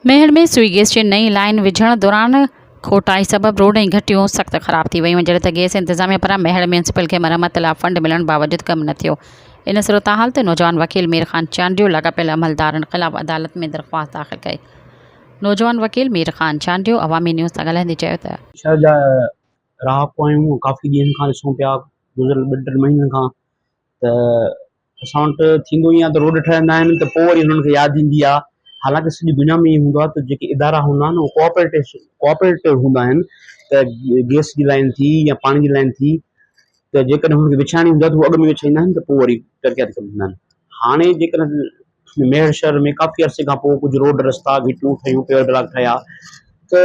Mehar ۾ Sui gas جي نئين line وجهڻ دوران کوٽائي سبب روڊ ۽ گهٽيون سخت خراب ٿي ويون جڏهن ته گيس انتظاميه پاران ميهڙ ميونسپل کي مرمت لا فنڊ ملڻ باوجود ڪم نه ٿيو ان صورتحال تي نوجوان وڪيل مير خان چانڊيو لاڳاپيل عملدارن خلاف عدالت ۾ درخواست داخل ڪئي نوجوان وڪيل مير خان چانڊيو عوامي نيوز سان ڳالهائيندي چيو ته شهر جا رهاڪو آهيون ڪافي ڏينهن کان ڏسون پيا گذريل ٻن ٽن مهينن کان ته اسان وٽ ٿيندو ائين آهي ته روڊ ٺهندا آهن ته پوء وري انهن کي ياد ايندي آهي حالانڪه سڄي دنيا ۾ ائين هوندو آهي ته جيڪي ادارا هوندا آهن اهي ڪوآپريٽيس ڪوآپريٽو هوندا آهن ته گئس جي لائين ٿي يا پاڻي جي لائين ٿي ته جيڪڏهن هنن کي وڇائڻي هوندي آهي ته هو اڳ ۾ وڇائيندا آهن ته پوء وري ترقياتي ڪم ٿيندا آهن هاڻي جيڪڏهن ميهڙ شهر ۾ ڪافي عرصي کان پوء ڪجهه روڊ رستا گهٽيون ٺهيون پيور بلاڪ ٺهيا ته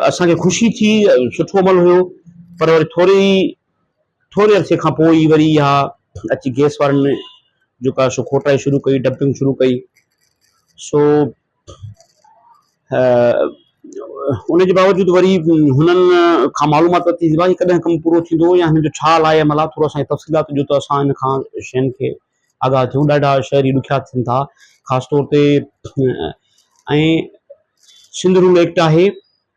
اسان کي خوشي ٿي سٺو عمل هيو پر وري ٿوري ٿوري عرصي کان پوء ئي وري اها اچي گيس وارن ۾ جيڪا سو کوٽائي شروع ڪئي، ڊمپنگ شروع ڪئي، سو ان جي باوجود وري هنن کان معلومات ورتي ته ڀاء هي ڪڏهن ڪم پورو ٿيندو يا هن جو ڇا لاء عمل آهي، ٿورو اسان کي تفصيلات ڏيو ته اسان هن کان شين کي آگاهه ٿيون، ڏاڍا شهري ڏکيا ٿين ٿا، خاص طور تي ۽ سنڌ رول ايڪٽ آهي.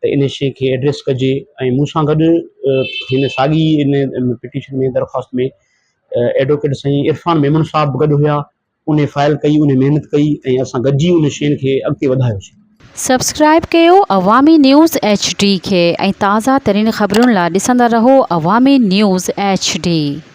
ته ان شيء کي ايڊريس ڪجي ۽ مون سان گڏ هن ساڳي ان پٽيشن ۾ درخواست ۾ ايڊووڪيٽ سائين عرفان ميمڻ صاحب به گڏ هيا ان فائل ڪئي ان محنت ڪئي ۽ اسان گڏجي ان شين کي اڳتي وڌايوسين. سبسڪرائب ڪيو عوامي نيوز ايڇ ڊي کي ۽ تازه ترين خبرن لا ڏسندا رهو عوامي نيوز ايڇ ڊي.